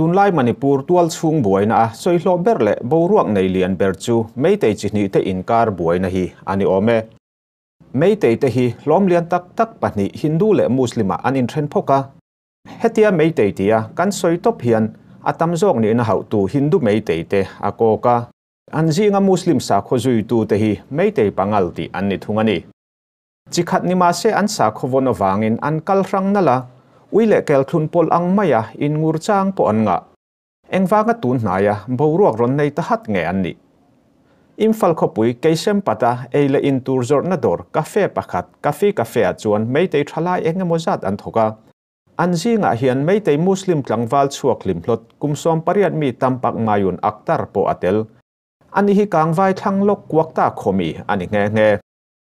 tunlai Manipur tual chhung buaina a sawihlawh ber leh boruak nei lian ber chu Meitei chi hnih te inkar buaina hi a ni awm e. Meitei te hi hlawm lian tak tak pahnih Hindu leh Muslima an inthen phawk a, Hetia Meitei tia kan sawi tawp hian a tam zawk nihna hauhtu Hindu Meitei te a kawk a. An zinga Muslim sakhaw zuitu te hi Meitei pangal tih an ni thung a ni. Chi khat ni mahse an sakhaw vawn avangin an kal hrang nal a, ui leh kelthlun pawlh ang maia inngur chang pawh an ngah. Engvanga tun hnaia boruak rawn nei ta hat nge an nih? Imphal khawpui Keisenpata eila in tur zawrhna dawr cafe pakhat Kafi Cafe ah chuan Meitei thalai eng emaw zat an thawk a. An zingah hian Meitei Muslim tlangval chhuak hlimhlawt kum sawm pariat mi Tampak Mayun Akhtar pawh a tel. Ani hi kangvai thlang lawk kuak ta khawmi a ni nghe nghe.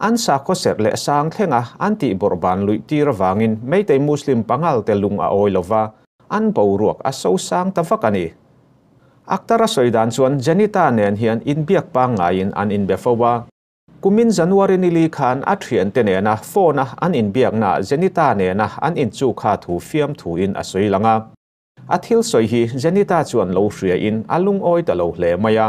An sakhaw serh leh sang thlenga an tihbawrh ban luih tir avangin Meitei Muslim pangalte lung a awi lova, an boruak a so sang ta vak a ni. Akhtar a sawi dan chuan Janita nen hian inbiak pangngaiin an inbe fo a. Kumin January ni li khan a thiante nena phone-a an inbiaknaah Janita nena an inchuk kha thu fiam thuin a sawi lang a. A thil sawi hi Janita chuan lo hria in a lungawi ta lo hle mai a.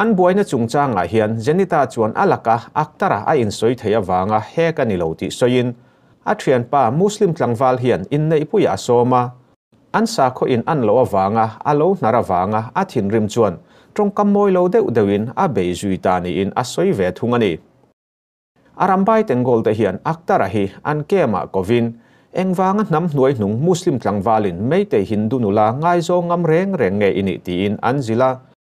An buaina chungchangah hian Janita chuan a laka Akhtar-a a insawi theih avanga hek a ni lo tih sawiin, a thianpa Muslim tlangval hian inneihpuiah a sawm a, an sakhaw in an loh avanga a lo hnar avanga a thinrim chuan tawngkam mawi lo deuh deuhin a bei zui ta niin a sawi ve thung a ni. A rambai Tengolte hian Akhtar-a hi an camp-ah kovin, engvanga hnam hnuai hnung Muslim tlangvalin meitei Hindu nula ngaizawng ngam reng reng nge i nih tiin an zil a,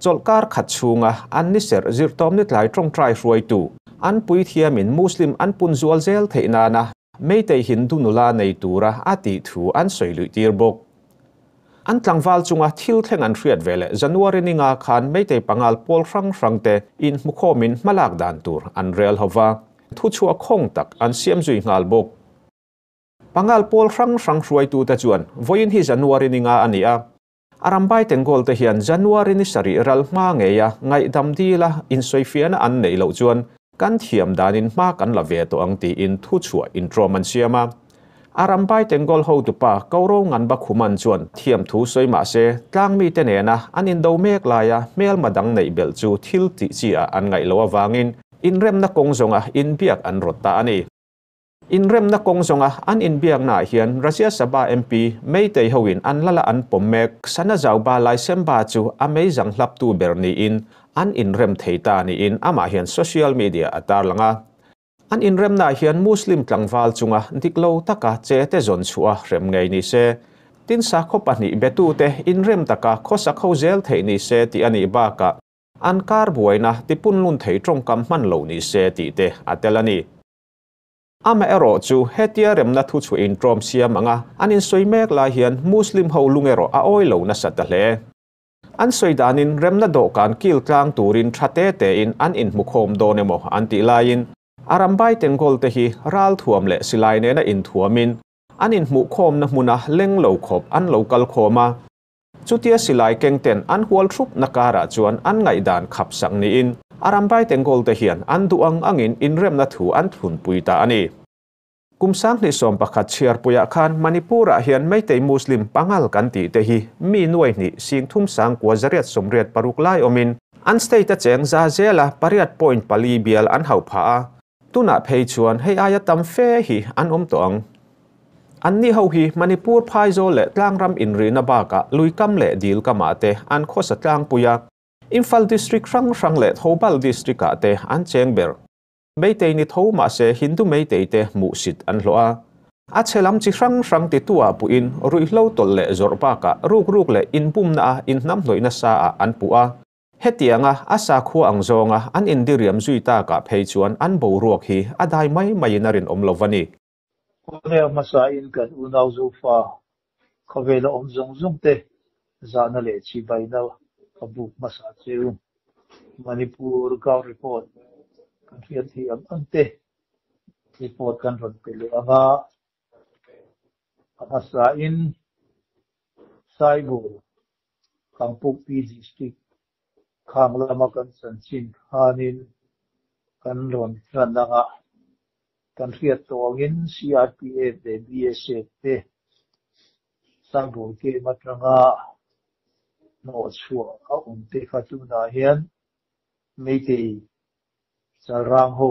Chawlhkar khat chhunga an ni serh zirhtawm ni tlai tawngtai hruaitu, an puithiamin Muslim an punzual zel theih nana Meitei Hindu nula nei tura a tih thu an sawi luihtir bawk. An tlangval chunga thil thleng an hriat ve leh January ninga khan Meitei pangal pawl hrang hrangte inhmukhawmin hmalak dan tur an rel ho va, thuchhuah khawng tak an siam zui nghal bawk. Pangal pawl hrang hrang hruaitute chuan vawiin hi January ninga a ni a, A ram baiteng gawlte hian January ni sarih ral hma ngeia ngaihdam dila insawifiahna an neih loh chuan kan thiam danin hma kan la ve tawh ang tiin thu chhuah intlawm an siam a. A ram baiteng gawl hotupa Kauro Nganba Khuman chuan thiam thu sawi mah se, tlang mite nena an indo mek laia hmelma dang neih belh chu thil tihchiah ah an ngaih loh avangin inremna kawng zawnga inbiak an rawt ta a ni. Inremna kawng zawnga an inbiaknaah hian Rajya Sabha MP Meitei hoin an la la an pawm mek, Sana Zauba Laisemba chu a meizang hlaptu ber niin an inrem thei ta niin amah hian social media a tarlang a. An inremnaah hian Muslim tlangval chunga dik lo taka che te zawn chhuah a hrem ngei ni se, tin sakhaw pahnih betute inrem taka khaw sakho zel theih ni se tih a nih bakah an kar buaina tipunlun thei tawngkam hman lo ni se tih te a tel a ni. Amaherawh chu, hetia remna thu chu in ṭawm siam ang a, an in sawi mek lai hian Muslim ho lung erawh a awi lo nasa ta hle. An sawi danin remna dawhkan kil tlang turin ṭha te tein an in hmukhawm dawn emaw an tih laiin, a rambai Tengkawl te hi ral thuam leh silai nena in thuamin an in hmuhkhawmna hmuna leng lo khawp an lo kal khawm a, Chutia silai kengten an hual thup na karah chuan an ngaihdan khap sang niin a rambai tenkawl te hian an duh ang angin inremna thu an thlunpui ta a ni. Kum sang hnisawm pakhat chhiarpuiah khan Manipur-ah hian Meitei Muslim pangal kan tih te hi mi nuai hnih sing thum sang kua zariat sawmriat paruk lai awmin an state-a cheng za zela pariat point pali bial an hauh phah a, Tunah phei chuan hei aia tam fe hi an awm tawh ang. Anni ho hi Manipur phaizawl leh tlangram inrihna bakah luikam leh dil kamah te an khawsa tlangpui a, Imphal District hrang hrang leh Thoubal District ah te an cheng ber. Meitei ni tho mahse Hindu Meitei te hmuh sit an hlawh a, a chhe lam chi hrang hrang ti tuah puhin ruihhlo tawlh leh zawrh bakah rukruk leh inbumna a inhnamhnawihna sa ah an puh a, Hetianga a sakhua ang zawnga an indiriam zui takah phei chuan an boruak hi a dai mai maiin a rinawm lo a ni. Khawhneia hmasain kan unau Zofa khawvela awm zawng zawngte zahna leh chibaina a buk hmasa chu Manipur Gau Report kan hriat theih ang angte report kan rawn pe leh anga. a hmasa in Saibu Kangpuk PG Street khang lama kan san chin khan in kan rawn hlan anga kan hriat tawng in CRPF leh BSF te Saibu KM atanga hnawh chhuah a awm te kha tunah hian Meitei Chalrang ho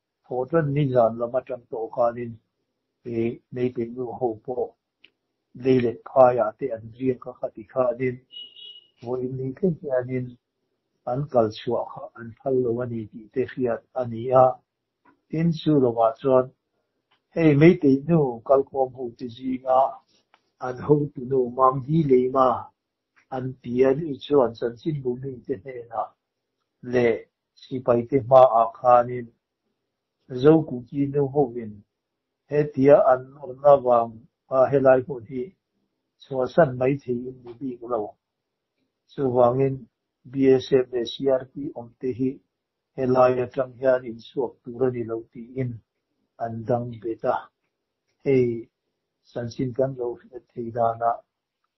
Phaw chuan nizan lam atang tawh khanin he Neipen nu ho pawh lei let phaiah te an riang ka kha ti khanin phaw in ni thleng hianin an kal chhuah kha an phal lo a ni tih te hriat a ni a. Tin chu lohah chuan hei Meitei nu kalkhawm ho te zinga an hotu nu Mam Hi Leima an pian i chuan Chanchin Bumi te hnenah leh Sipaite hmaah khanin Zokuki nu hoin hetia an awrhna vang a helai pawh hi chhuahsan mai theiin ni bik lo. Chuvangin BSF leh CRP awmte hi helai atang hian inchhuak tur a ni lo tiin an dang bet a. Hei chanchin kan lo hriat thei danah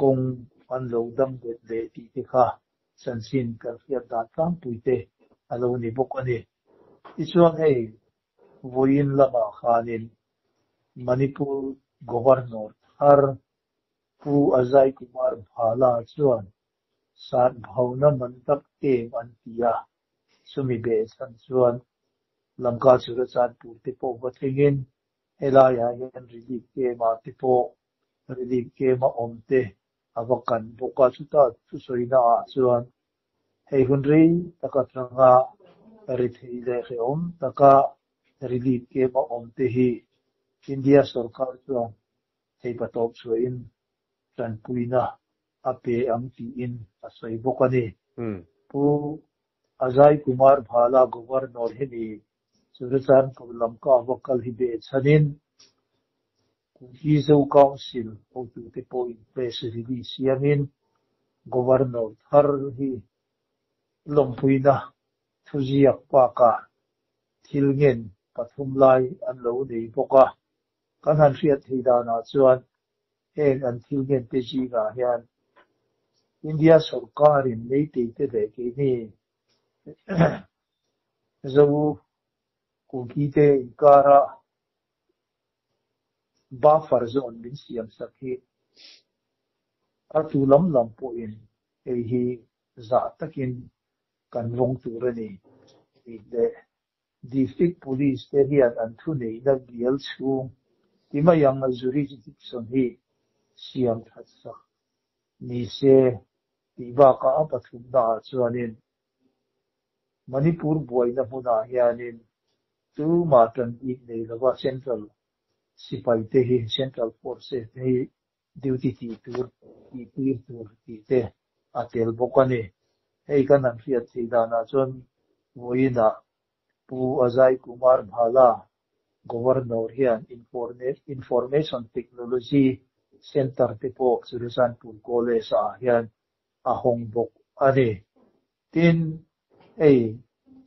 Kawng an lo dam det leh tih te kha chanchin kan hriat dan tlangpui te a lo ni bawk a ni. Tichuan hei vawiin lamah khanin Manipur Governor thar Pu Ajay Kumar Bhalla chuan Satbhauna man tak em an ti a, chumi beh chhan chuan Lamka Churachan purte pawh va tlingin helaiah hian relief kema te pawh Riding kem a awm te a va kan bawk a, chuta chu sawina ah chuan hei hun rei tak atanga ri thei leh ri awm taka riding kem a awm te hi India sawrkar chuan theipa tawp chhuahin tanpuina a pe ang tiin a sawi bawk a ni. Pu Ajay Kumar Bhala Governor hi ni Churachandpur lam ka a va kal hi beh chhanin, Kum hi Zo Council hotute pawhin press release siamin Governor thar hi Lawmpuina Thuziak Park-ah thil ngen pathum lai an lo nei bawk a. Kan han hriat theih danah chuan heng an thil ngen te zingah hian India sawrkarin Meiteite leh keini Zo kum hi te inkara Buffer zone min siam sak hi a tu lam lam pawhin hei hi zah takin kan vawng tur a ni tih leh District Police te hian an thu neihna bial chhung ti mai ang a jurisdiction hi siam that sak ni se tih bakah a pathumnaah chuanin Manipur buaina hmunah hianin chu mah tan tih nei lova Central Sipai te hi, Central Forces te hi duty tih tur, tih tir tur tih te a tel bawk a ni. Hei kan han hriat theih danah chuan vawiina Pu Ajay Kumar Bhalla, Governor hian Information Technology Centre te pawh Churachandpur College-ah hian a hawng bawk a ni. Tin, hei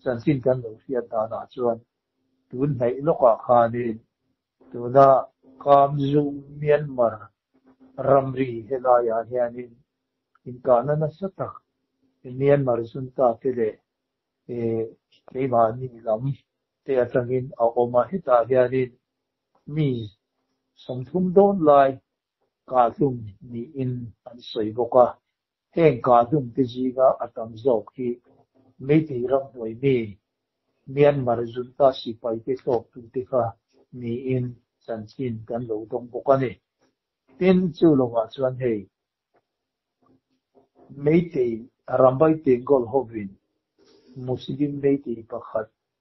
chanchin kan lo hriat danah chuan tun hnaih lawkah khanin tuna Kamzum Myanmar ramri helaiah hianin inkahna nasa tak Myanmar chuntate leh keimahni lam te atangin a awm a, hetah hianin mi sawmthum dawn lai Kahhlum niin an sawi bawk a, heng kahhlum te zinga a tam zawk hi meitei ramhnuai mi Myanmar Junta sipaite hlawktute kha niin chanchin kan lo dawng bawk a ni. Tin, chu lovah chuan hei meitei Rambai Tengol hovin Muslim meitei pakhat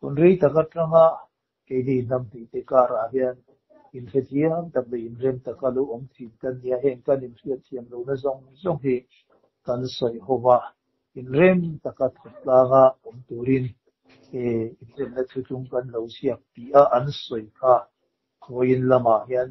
Hunrei tak atanga keini hnam hnih te karah hian inhrethiam tak leh inrem tak a lo awm thin kan nia. Heng kan inhriatthiam lohna zawng zawng hi kan sawi ho va, inrem taka thawthlanga awm turin he inremna thu chung kan lo ziak tih a an sawi kha. Khawiin lamah hian.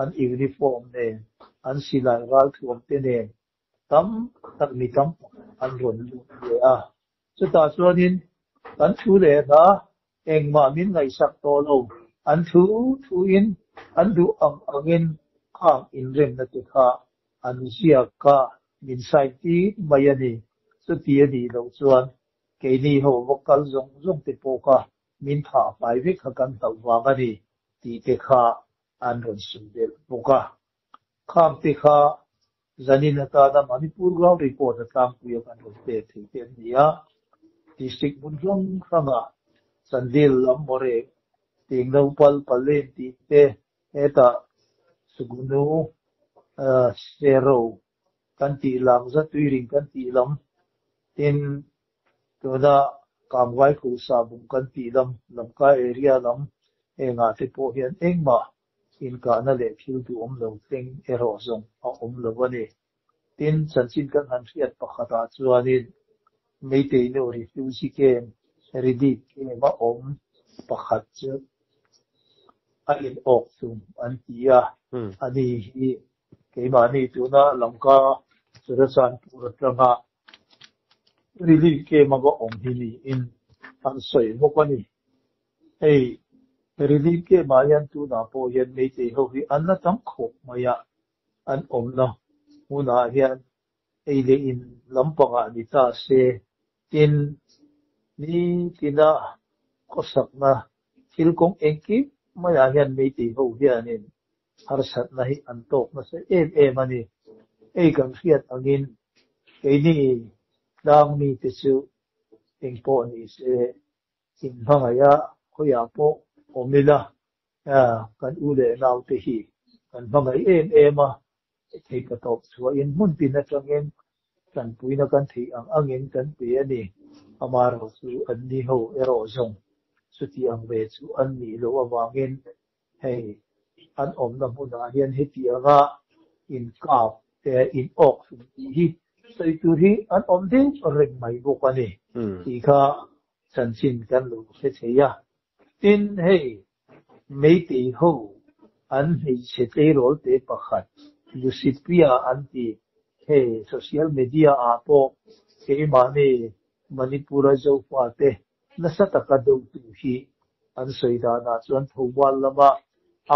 an uniform nen, an silai ralthuam te nen tam tak mi tam tak an rawn luh leh a. Chutah chuanin kan thu leh hna, engmah min ngaihsak tawh lo, an thu thuin an duh ang angin khang inremna te kha an ziak kha min sign tih mai a ni. Chuti a nih loh chuan keini ho va kal zawng zawng te pawh kha Min phah fai vek kha kan hloh vang a ni tih te kha an rawn sim belh bawk a. Kham te kha zanin atana Manipur Ground Report a tlangpui a kan rawn pek thei te an ni a. District hmun hrang hranga Chandil lam maw re, Teng Naupal, Palen tih te, hetah Suknu, Sero, kan tih lam za tui ring kan tih lam tin tuna kamngai khuh sah bum kan tih lam lamkai area lam engah te pawh hian engmah inkahna leh thil duhawm lo tleng erawh zawng a awm lo a ni tin chanchin kan han hriat pakhatah chuanin meiteinew refugee camp relief camp a awm pakhat chu a inawk thung an ti a a ni hi Keimahni tuna Lanka Theresan tur atanga Relief Camp a va awm hi niin an sawi bawk a ni. Hei Relief Camp ah hian tunah pawh hian Meitei ho hi an la tam khawp mai a, an awmna hunah hian ei leh in lam pangah ni ta se tin ni tina khawsakna thil kawng engkim maiah hian Meitei ho hianin Harsatna hi an tawk nasa em em a ni. Hei kan hriat angin keini tlang mite chu eng pawh ni se in hmangaia hawiah pawh awm ila kan u leh naute hi kan hmangaih em em a, theipa tawp chhuahin hmun pin atangin tanpuina kan theih ang angin kan pe a ni. Amarawh chu an ni ho erawh zawng chuti ang ve chu an nih loh avangin Hei an awmna hmunah hian heti anga inkap eh inawk thung tih hi sawi tur hi an awm deuh reng mai bawk a ni tih kha chanchin kan lo hre thei a. Tin, hei Meitei ho an hmeichhe tleirâwlte pakhat Lusitpia an ti hei social media-ah pawh keimahni Manipura Zofa te Nasa taka dotu hi an sawi danah chuan Thomual lama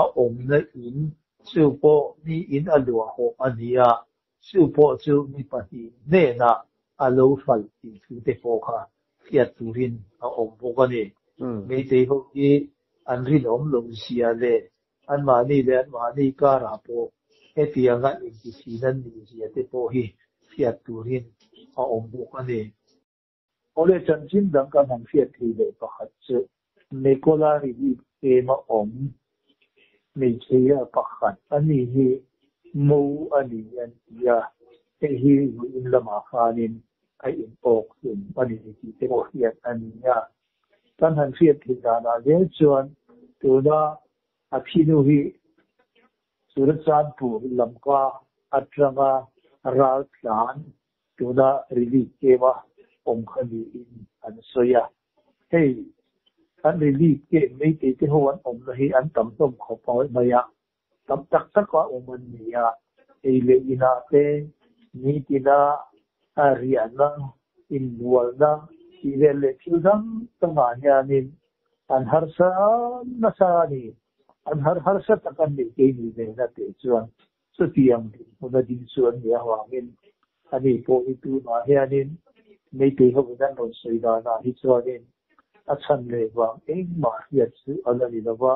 a awmna in chu pawh mi in a luahawh a ni a, chu pawh chu mi pahnih hnena a lo hralh tih thu te pawh kha hriat turin a awm bawk a ni. Meitei ho hi an rinawm lo zia leh anmahni leh anmahni karah pawh hetiang a inti thin an ni zia te pawh hi hriat turin a awm bawk a ni. Awle chanchin dang kan han hriat thei leh pakhat chu Nikola Rihib ema awm hmeichhia pakhat a ni hi Mo a ni an ti a, hei hi Ruiin lamah khanin a in awk hlum a ni tih te pawh hriat a ni a. Kan han hriat thei danah zel chuan tuna a phinu hi Churachandpur lamka atanga Raltlan Tuna relief kema awm kha niin an sawi a. Hei an relief keng meitei te ho an awmna hi an tam hlawm khawp mai a, tam tak tak a awm an ni a, ei leh inah te, nitina, a riahna, inbualna tih vel leh thil dang dangah hianin an harsa nasa a ni, an har harsa tak an ni keini vel a teh chuan. Chutiang hmun a ding chu an nih avangin a ni pawh hi tunah hianin Meitei ho in an rawn sawi danah hi chuanin a chhan leh vang engmah hriat chu a la ni lova,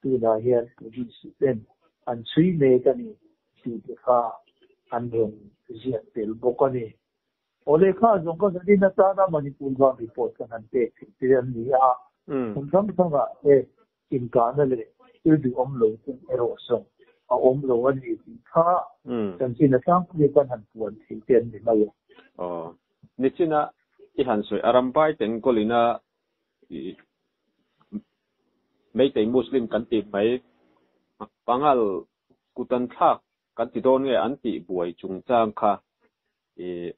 tunah hian Police-ten an chhui mek a ni tih te kha an rawn ziak tel bawk a ni. Aw lehkha a zawng kha zanin atana Manipur vang report kan han pek thei te an ni a, hmun hrang hrangah heng Inkahna leh thil duhawm lo te erawh zawng a awm lo a ni tih kha chanchinna tlangpui a kan han puan thei te an ni mai a. Aw. Nichina i han sawi a rambai te Enkolina ih Meitei Muslim kan tih mai Pangal Kutanthlak kan ti dawn nge an tih buai chungchang kha ih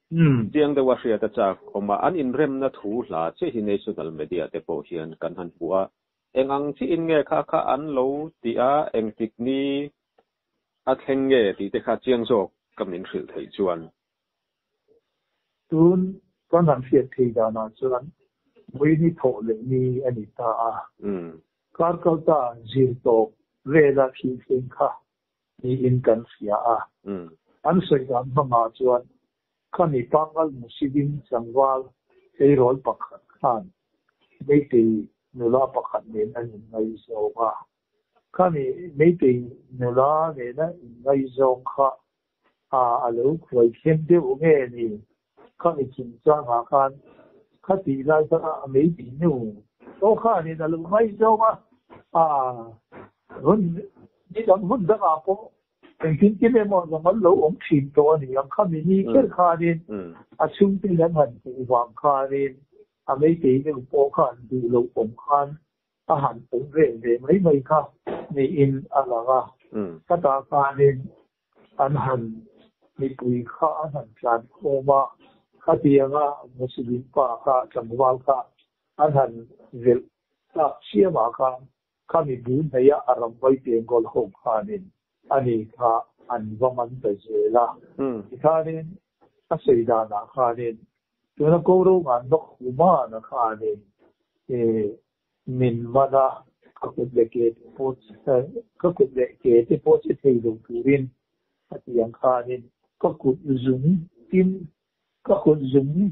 chiang deuha hriata chak awm a an inremna thu hla chiah hi national media te pawh hian kan han hmu a. Eng ang chihin nge kha kha an lo ti a, engtik ni a thleng nge tih te kha chiang zawk ka min hrilh theih chuan. Tun kan han hriat thei danah chuan Muini thawh leh ni a ni ta a, Karkalta zir tawp vela thil thleng kha niin kan hria a, an sawi dan hmangah chuan Khami pangal Musidin tlangval eirawl pakhat khan Meitei nula pakhat nena in ngaizawng a. Khami Meitei nula nena in ngaizawng kha a a lo khuai thleng deuh nge ni? Khami chungchangah khan kha tih lai kha a Meitei nu pawh khan in a lo ngaizawng a. A hun ni dang hun dangah pawh Kan thil tir emaw zong an lo awm thin tawh a ni. Ang kha mi ni kher khanin a chhungte hi an han hmuh vang khanin a meitei deuh pawh kha an duh loh awm khan a han awm vel ve mai mai kha niin a lang a. Khatah khanin an han mipui kha an han tlan khawm a, khatianga Muslim pa kha tlangval kha an han velh tak chiamah khan Kha mibu hneihah a ram vawi pian kawl ho khanin a ni kha an va man ta zel a, tikhanin a sawi danah khanin tuna ko ro ngan bawk humana khanin min man a, ka kut leh ke te pawh ka kut leh ke te pawh che thei lo turin a ti ang khanin ka kut zung tin ka kut zung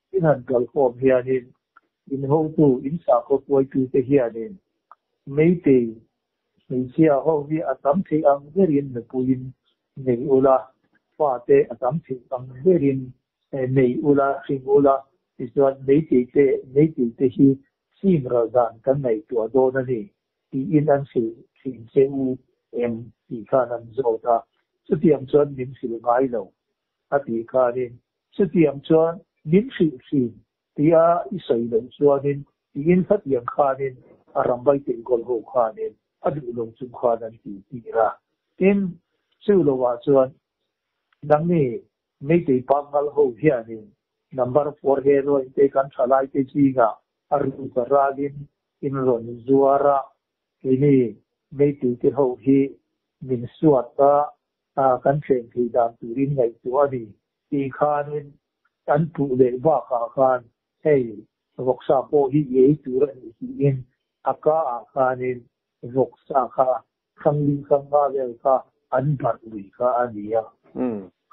Tin han kal khawm hianin inhotu, insakhaw puaitute hianin Meitei hmeichhia ho hi a tam theih ang berin nupuiin nei ula, fate a tam theih ang berin nei ula, hring ula, tichuan Meitei te, Meitei te hi fim ralh dan kan ngaihtuah dawn a ni tiin an fil thin che u em tih khan an zawt a, chutiang chuan min fil ngai lo a tih khanin, Chutiang chuan min hrih thin, ti a i sawi loh chuanin, tiin Hlatiang khanin a ram vai teh gawlh ho khanin a duh lo chung khan an ti tir a. Tin, chu lo ah chuan nangni Meitei pa ngal ho hianin number four he Roin te kan tha lai te zingah a ruk a râlin in rawn zuar a, keini Meitei te ho hi min suat a, a kan thleng thei dan turin ngaihtuah a ni tih khanin an puh leh bakah khan hei vawksa pawh hi i ei tur a ni tiin a ka ah khanin vawksa kha Thangling Sangha vel kha an barh lui kha a ni a.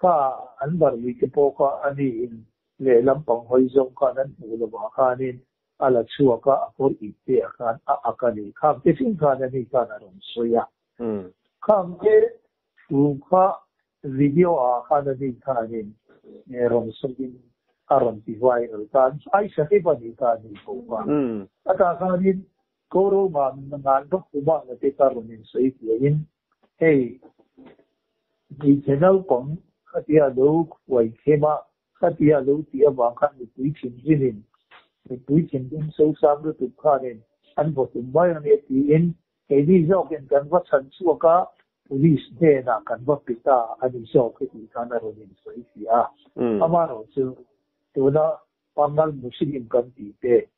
Ka ah an barh lui te pawh kha a nihin lehlam pang hawi zawng kha nan hmuh lo ah khanin a la chhuak a a kawr ip te ah khan a ak a ni. Kham te fing khan a ni khan a rawn sawi a. Kham te thu kha video ah khan a din kha anin e rawn sawi in a rawn ti viral ta an ai sahib a nih kha a ni ko va. A tah khan in ko roma na ngan bawk pu mah na te kha rawn in sawi fiah in hei hmeichhe naupang khatia lo huai khem a khatia lo tih avang khan mipui thin zin in mipui thin ding sosam lutuk khan in an vawt um mai a ni ti in Keini zawkin kan va chhan chhuak a, police hnenah kan va pit a a ni zawk hi tih khan a rawn insawi thliah a. Amaherawh chu, tuna Pangal Muslim kan tih te,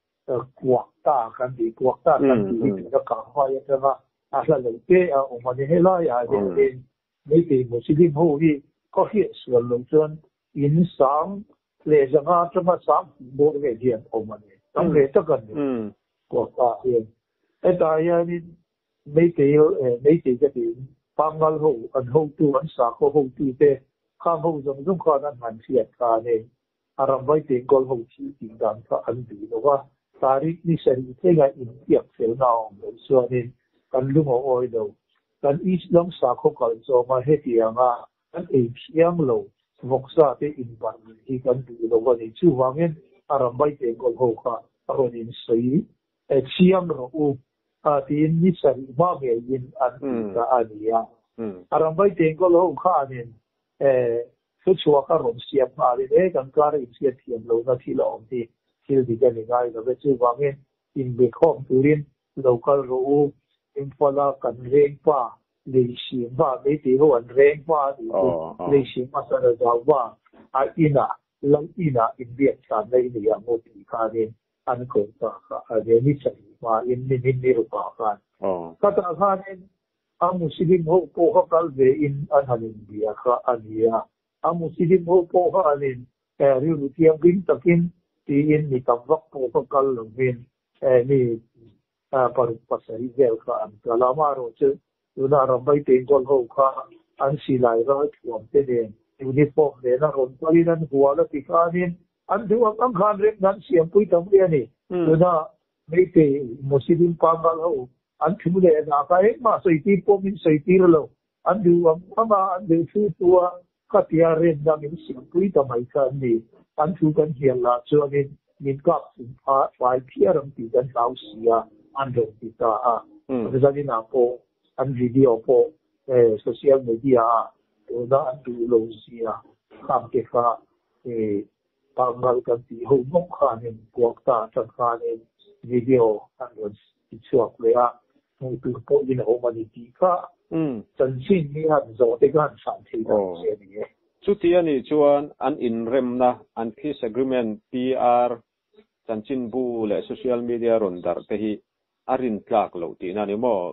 Kuakta kan tih, Kuakta kan tih hi tuna Kahvai atanga a hla lo te a awm a ni. Helaiah hianin, meitei Muslim ho hi khawhriat sual loh chuan in sang Lehzang atanga sang hmuh bawr nge hi an awm a ni? Tam ve tak a ni. Kuakpa hian, Hetah hianin Meitei, Meitei ka tiin, Pangngal ho, an hotu, an sakhaw hotute, khang ho zawng zawng khan an han hriat ta a ni. A ramvai tengkawl ho thil tih dan kha an duh lo va, Tarik ni sarih thlengah inpiak felna a awm loh chuanin kan lungaw awi lo. Kan East lam sakhaw kalh zawngah hetianga Kan ei phiang lo vawk sa te inban nih hi kan duh lo a ni. Chuvangin a rambai teh kawlh ho kha a rawn insawi thiam rawh u a tiin ni sarih hma ngeiin an tih ta a ni a. A rambai teh kawlh ho khanin thuchhuak a rawn siam nghalin he kan kar a inhriat thiam lohna thil a awm hi thil dik a ni ngai lo ve. Chuvangin inbekhawm turin Lo kal rawh u, Imphal-a kan reng hma, lei sim hma, meitei ho an reng hma a nih hi, lei sim hma san a zau hma, a inah, lo inah inbiak thlanna i neih ang aw tih khanin an ko ta kha, a reni sahih hmain min in ni ru pah khan. Khata khanin a Muslim ho pawh kha kal ve in an han inbia kha a nia, a Muslim ho pawh kha an in rilru thiam ring takin tiin mi tam vak pawh kha kal lo min He mi paruk pasarih vel kha an kal a, mah erawh chu tuna a ram mai tein Kawlho kha an silai ral thuam te nen uniform nen a rawn palhin an hual a ti khanin an duh ang ang kha an remna an siampui ta mai a ni. Tuna Meitei Muslim pangal ho an thu leh a dah kha engmah sawi tir pawh min sawi tir lo, An duhvang hmanga an leh thu tua khatia rem na min siampui ta mai kha an ni. An thu kan hial lah chuanin min kap thum kha fai phiar ang tih kan hlau si a, an rawn ti ta a. Vasalina pawh an video pawh social media-ah tuna an duh lo zia kham te kha pang ngal kan tih ho mawngkhanin puak ta a changkhanin video an rawn Ti chhuak leh a, hmuh tur pawh in a awm a ni tih kha chanchin hi han zawh te kha han chhan thei dan te a ni e. Chuti a nih chuan an inremna, an peace agreement, PR, chanchin bu leh social media rawn darh te hi a rin tlak loh tihna a ni maw?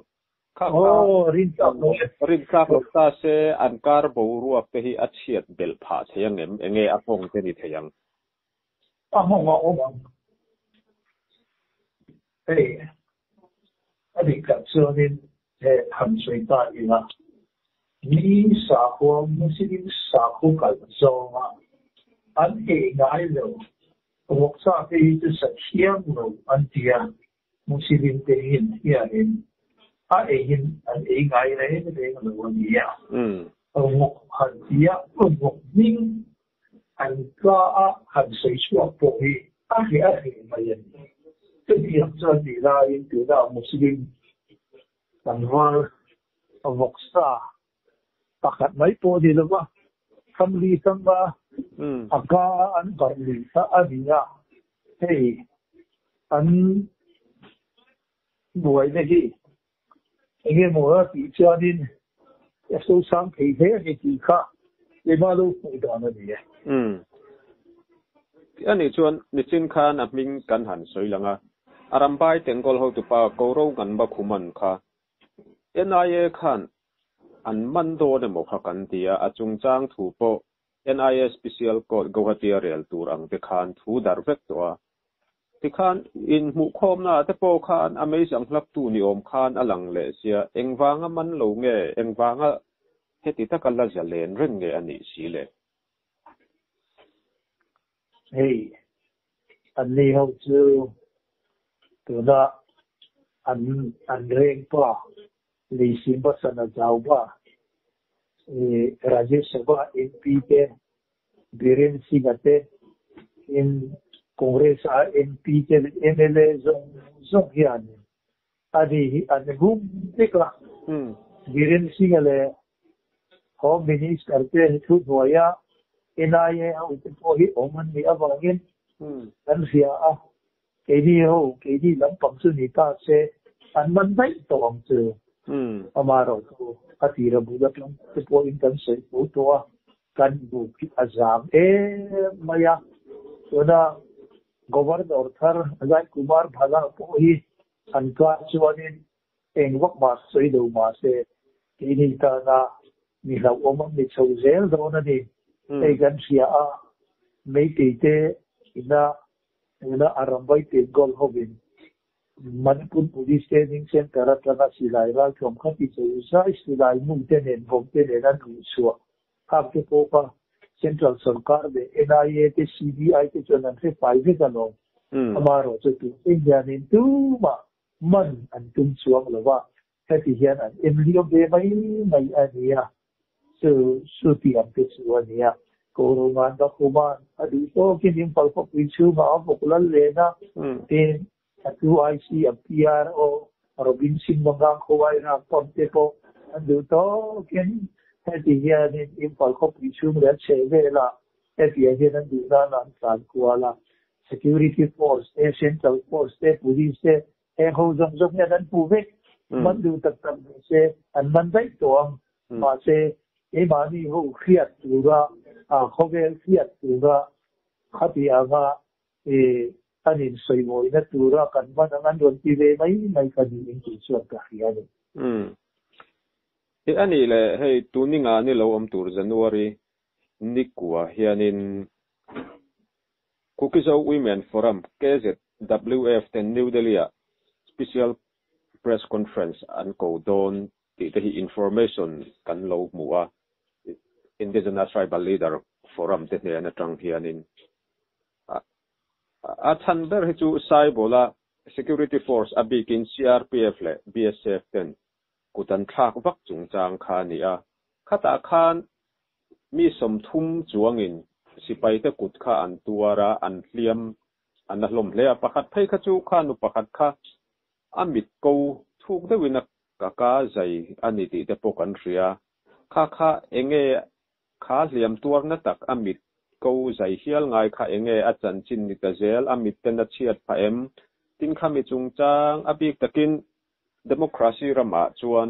Kha kha, rin tlak loh ta se an kar boruak te hi a chhiat belh phah thei ang em? Enge a kawng te ni thei ang? a hmang a awm ang. Hei a nih tlat chuanin he han sawi ta ila mi sakua muslim sakua kal zawnga an hei ngai lo ruak chak hi chu sathiam lo an tia Muslim te hian hriat in a ei in an ei ngai reng reng a lo a ni a, rawngawk han ti a, rawngawk hming an tla a han sawi chhuak pawh hi a hre a hre mai a ni. Chutiang chuan ti laiin tunah Muslim kan rual vawk sa Pakhat mai pawh ni lova, family sanga a ka an karh leh ta a ni a, hei an buaina hi enge maw a tih chuanin a sosang thei hle a ni tih kha tlema lo hmuh dan a ni e. Tih a nih chuan Nichin khan a hming kan han sawi lang a, a rambai tengkawl hotupa Koro Nganba Khuman kha NIA khan an man dawn emaw kha kan ti a, a chungchang thu pawh NIA Special Court Guwahati-a rel tur ang te khan thu darh vek tawh a. Tikhan inhmuhkhawmnaah te pawh khan a meizang hlaktu ni awm khan a lang leh sia, engvanga man lo nge, engvanga heti taka la zia len reng nge a nih si le? Hei an ni ho chu tuna an an rengpa Lisimba Sana Zauba, Rajya Sabha MP te, Biren Singha te, tin Congress a MP te leh MLA zawng zawng hian a nih hi an hum vek a, Biren Singha leh Home Minister te hi thu hnuai a, NIA ho te pawh hi awm an nih avangin kan hria a, keini ho keini lampang chu ni ta se an man daih tawh ang che, amah erawh chu a tira bulat lam te pawhin kan sawi fo tawh a. Kan buk hi a zam em mai a. Tuna Governor thar Ajai Kumar Bhala pawh hi an kar chuanin eng vak mah sawi lo mah se, kei ni tana mi hlauhawm an ni chho zel dawn a ni. Hei kan hria a, Meitei te ina tuna a ramvaite goal hovin Manipur Police te Ning Centre atanga silai raltlawm kha ti chei zai silai hnu te nen vawng te nen an ruih chhuah khak te pawh kha Central sawrkar leh NIA te CBI te chuan an hre fai vek alawm. Amaherawhchu tun enghianin tumah man an tum chuang lova Heti hian an enriau ve mai mai a nia, chu chu tih ang te chu a nia. Kawro ngan ka khum a, a duh tawkin in palkawpui chhungah a vawk lal len a, tin a tu IC an PR aw, Robin Singh Mangang khawai rak pump te pawh an duh tawkin heti hianin in palkawpui chhung leh a chheh velah hetiah hian an duh nana an tlan kual a, security force te, central force te, police te He ho zawng zawng hian an pu vek, man duh tak tak nih se an man daih tawh ang. Mahse, keimahni ho hriat tura, khawvel hriat tura khati anga an insawihawihna tura kan hman ang an rawn ti ve mai mai ka ni in tih chuan ka hria a ni. Tih a nih leh, hei Tuninga ni lo awm tur January ni kua hianin Kuki-Zo Women Forum, KZWF, ten New Delhi-ah Special Press Conference an ko dawn tih te hi information kan lo hmu a, Indigenous Tribal Leader Forum te hnen atang hianin. A chhan ber hi chu Saibola Security Force a bikin CRPF leh BSF ten kut an thlak vak chungchang kha a ni a, khatah khan mi sawmthum chuangin sipaite kut kha an tuar a, an hliam an la hlawm hle a, pakhat phei kha chu kha nu pakhat kha a mit ko thuk deuhin a kaka zai a ni tih te pawh kan hria, kha kha enge kha hliam tuar na tak a mit ko zai hial ngai kha enge a chanchin ni ta zel, a mit ten a chhiat phah em, tin kha mi chungchang a bik takin Democracy ramah chuan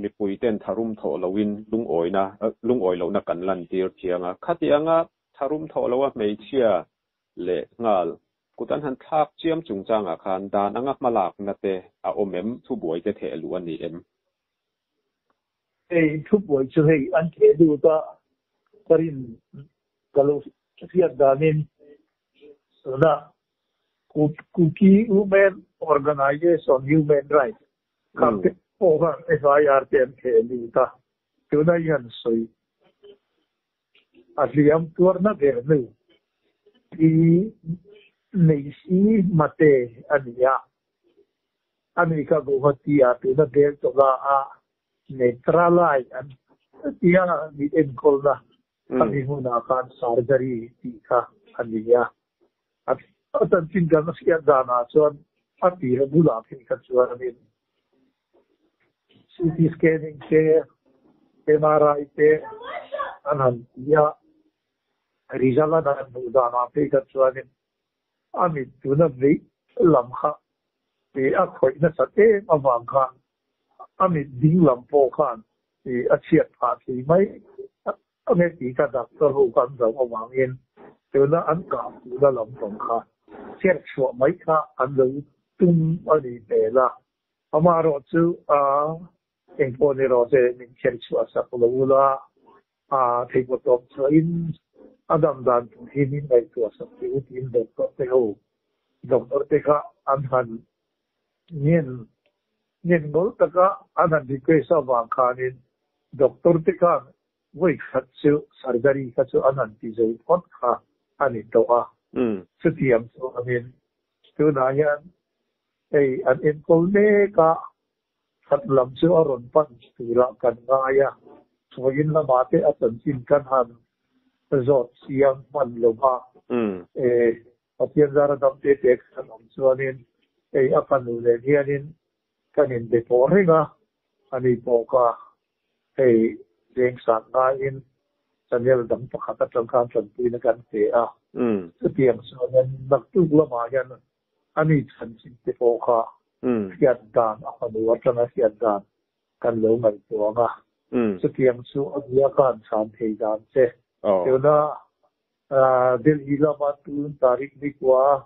mipuiten tharum thawh lohin lungawina lungawi lohna kan lantir thiang a, khatianga tharum thawh loha hmeichhia leh nghal kut an han thlak chiam chung changah khan dan anga hmalakna te a awm em, thubuaite theluh a ni em? Hei thupuai chu hei an ti a lut a, parin ka lo hriat danin tuna Kuki Women Organisation Human Rights khan te pawh khan FIR te an theh a lut a, tuna i han sawi. A hliam tuar na ber nu hi Neisi Mate a ni a, a ni kha Guwahatiah tuna bel tawla a Netralai an tia mit enkawlna a ni hmunah khan Surgery tih kha a ni a. A tan chin kan a hriat danah chuan a tih a bulah khi kha chuanin CT scanning te, MRI te an han ti a, result a dan hmuh danah khi kha chuanin a mit tuna beih lam kha ih a khawih nasat em avang khan a mit dinglam pawh khan ih a chhiat phah thei mai. Ka hmel tih kha dak ka ru kan zoh avangin tuna an kah tihna lam pawng kha chherh chhuah mai kha an lo tum a nih hmel a, amah erawh chu aah eng pawh ni rawh che min kher chhuah sak lo u la, aah theihpawhtawp chhuahin a dam dan tur hi min ngaihtuah sak teh u tiin doctor te ho doctor te kha an han Nghin nghin ngol taka an han request a vang khanin doctor te khan vawikhat chu surgery kha chu an han ti zui phawt kha a ni tawh a, chutiang chuangin tunah hian hei an enkawl mek a khat lam chu a rawn pan turah kan ngai a, Thawiin lamah te a chanchin kan han zawt siam hman lova. Pathian zar a dam tê têk san awm chuanin ei a ka nuh nen hianin kan in be pawh reng a, a ni bawk a, hei veng sat ngaiin channel dang pakhat atang khan tanpuina kan pe a, chutiang chuan naktuk lamah hian a ni chhan chhin te pawh kha hriat dan a fanu atanga hriat dan kan lo ngaihtuang a, chutiang chu a bia khan chhan thei dan che. Tunah Delhi lama tun Tariq Nikwa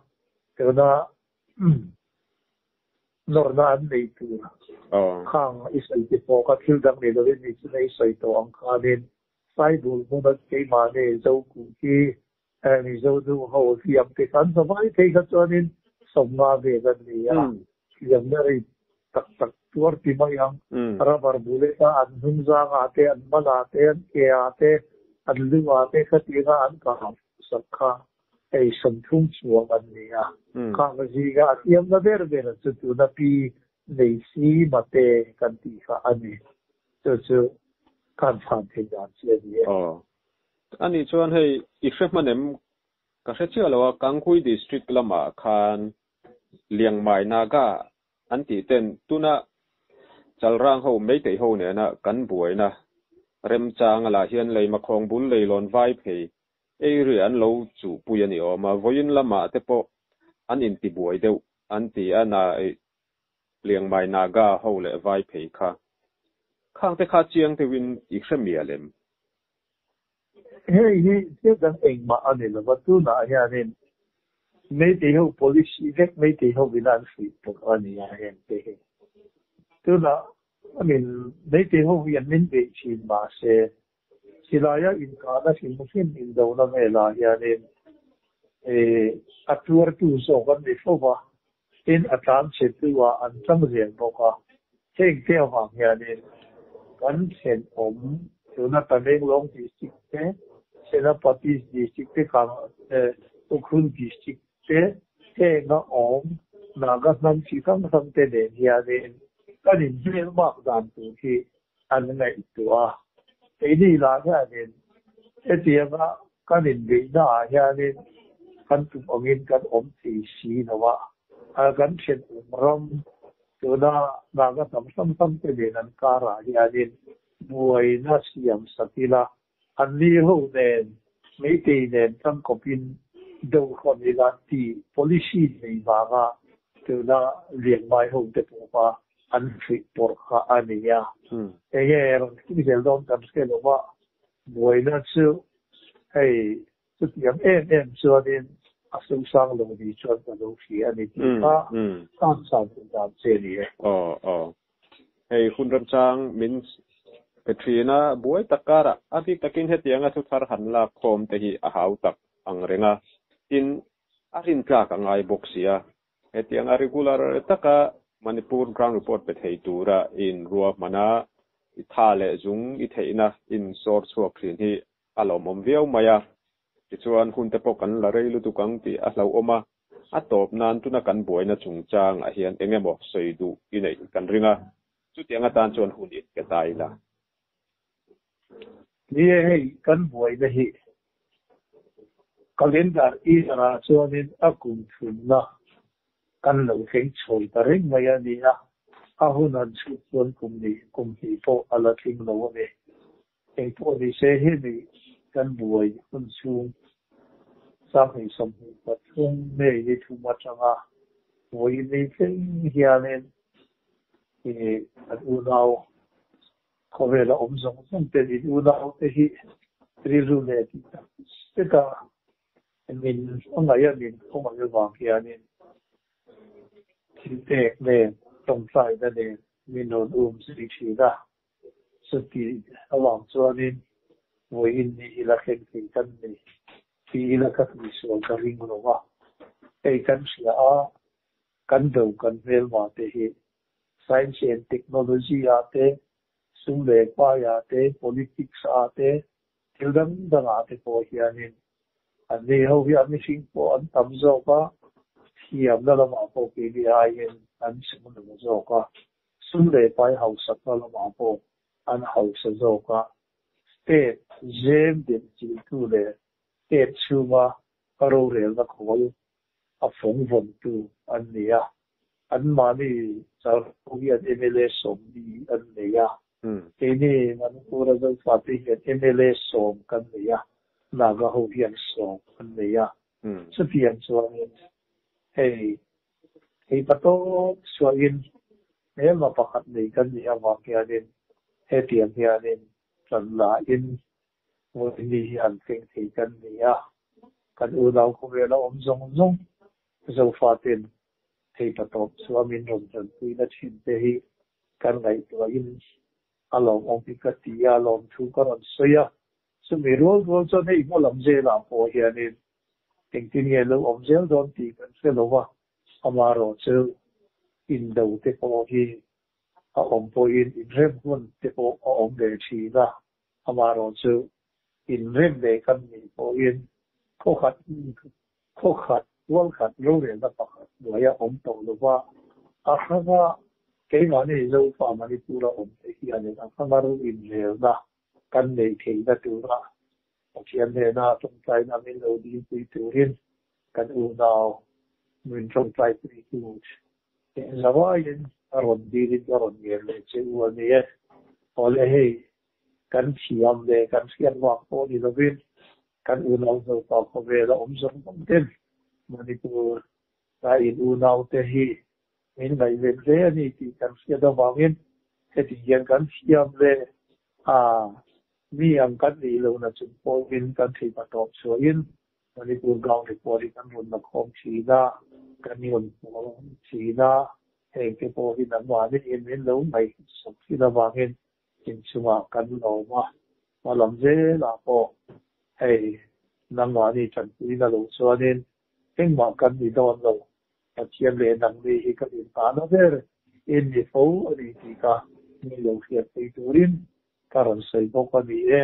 tuna nawrna an nei tur kha ang i sawi ti pawh ka thil dang nei lovin ni chunga i sawi tawh ang khanin Saibul hmuna keimahni Zokuh hi Mizo nu ho hliam te kan hlavai phei kha chuanin sawmnga vel an ni a, hliamna rei tak tak tuar ti mai ang. Rubber bullet a an hming zang ah te, an mal ah te, an ke ah te, an lu ah te kha ti kha an kah sak kha ei sawn phung chuang an ni a. Khangka zing ah a tiam na ber ber ah chu tun a pi nei si ma te kan tih kha a ni. Chu chu kha an chhan thei dan si a ni e. Aw. Ani chuan hei i hre hman em? Ka hre chiah lo a, Kanghui District lam ah khan Liangmai Naga an tih ten tuna Chalrang ho meitei ho nena kan buaina remchanga lah hian leimakhawng bul leilawn vai phei eiria an lo chuh pui a ni awm a, vawiin lamah te pawh an intibuai deuh an ti a nai Liangmai Naga ho leh vai phei kha khangte kha chiang deuhin i hremia lem. Hei hi thil dang engmah a ni lova, tunah hianin Meitei ho policy vek Meitei ho ina an fuih pawh a ni a heng te hi. Tunah I mean Meitei ho hi an min beih thin mahse, silaiah inkahna hrim hrim indona velah hianin a tuartu zawk an ni fo va. Tin a tlan chhe deuhah an chang zel bawk a, heng Tehvang hianin kan thenawm tuna Tamenglawng District te, Senapati District te, Ukhrull District te, heng a awm Naga hnam chi hrang hrang te nen hianin kan inbel mak dan tur hi An ngaihtuah a, keini lah hianin hetianga kan inbeihna ah hianin kan tum angin kan awm thei si lo a, kan thian awm ram tuna Naga tam hram hram te nen an karah hianin buaina siam sak ila An ni ho nen Meitei nen tangkawpin deuh hlawt ni lah tih policy nei vanga tuna rianmai ho te pawh kha an hrilh pawrh kha a ni a. Eng nge rawn tih zel dawn kan hre lo a, buaina chu hei Chutiang em em chuanin a sungsang lo ni chuan ka lo hria a ni tih kha kan chhan duh dan che ni e. Aw aw. Hei hun remchang min pe thin a, buai tak karah a bik takin hetiang a thu thar han lak khawm te hi a hau tak ang reng a, tin a rin tlak a ngai bawk si a, hetiang a regular taka Manipur ground report pe thei tura in ruahmana i tha leh zung i theihna in sawr chhuak thin hi A la awmawm viau mai a, tichuan hunte pawh kan la rei lutuk ang tih a hlauhawm a, a tawp nan tuna kan buaina chungchangah hian eng emaw sawi duh i neih kan ring a, chutiang atan chuan hun in ka ta ila. Ni e, hei kan buaina hi calendar year-ah chuanin a kum thunna kan lo thleng chhawi ta reng mai a nia, a hun an chhut chuan kum ni kum hnih pawh a la tling lo a ni. Keipawh ni se hemi kan buai hun chhung sanghnih sawmhnih pathum nei ni thum atanga vawiin ni tling hianin an unau khawvela awm zawng zawng ten in unaute hi rilru leh tih tak seta min a ngaih a min khaw ngaih avang hianin thilpek nen tawngtlaina nen min rawn um zui thin a. Chutih avang chuanin vawi innih ila thleng thei kan ni tih ila ka hnuhsual ka ring lo a, hei kan hria a, kan do kan hmelmah te hi Science and Technology ah te, Sum leh Pai ah te, Politics ah te, thil dang dang ah te pawh hianin an nei ho hian mihring pawh an tam zawk a, thiamna lamah pawh keini aiin an chhung lo zawk a. Sum leh pai hausa kha lamah pawh an hausa zawk a, state zem dem chiltu leh state chhunga ka rorelna khawl a fawngvawntu an ni a, an mahni chauhru hian mla sawm mi an ni a, keini Manipura zalfate hian mla sawm kan ni a, Naga ho hian sawm an ni a, chutiang chuan hei Hei ta tawk suahin ema pakhat nei kan nih avang hianin hetiang hianin tlan lahin vawini hi an thleng thei kan ni a, kan unau khawvela awm zawng zawng Zofaten hei ta tawk suah min rawn hnanpuina thin te hi kan ngaihtuahin a lawmawm hi ka ti a, lawmthu ka rawn sawi a, chumi rual rual chuan hei hmuh lam zela pawh hianin Engtin nge lo awm zel dawn tih kan hre lo a, ama rawh chu in do te pawh hi a awm pawhin in rem hmun te pawh a awm ve thin a, ama rawh chu in rem leh kan nih pawhin khawkhat khawkhat hualkhat rorelna pakhat hnuai a awm tawh lo va, Ahranga keimahni Zofa Manipur a awmte hianin Ahranga ru inrelna Kan nei theihna tura Pathian hnena tawngtaina min lo dingpui turin kan unau min tawngtaipuitu teh zavaiin a rawn dirin ka rawn ngen leh che u a ni e. Awle hei, kan thiam leh kan hriat vang pawh ni lovin kan unau zopa khawvel a awm zawng zawng ten Manipur a in unaute hi Min ngaih ve hle a ni tih kan hriat avangin heti hian kan thiam ve a, mi ang kan nih loh na chung pawhin kan theipa tawp chhuahin Manipur Gau Report i kan rawn la khawm thin a, kan rawn puang thin a, heng te pawhin an mahni hi min lo ngaih sawk thin avangin inchungah kan awm a, hma lam zel ah pawh hei nangmahni tanpuina lo chuanin Engmah kan ni dawn lo, Pathian leh Nangni hi kan intahna ber en ni fo a ni tih kha mi lo hriat phei turin ka rawn sawi bawk a ni e.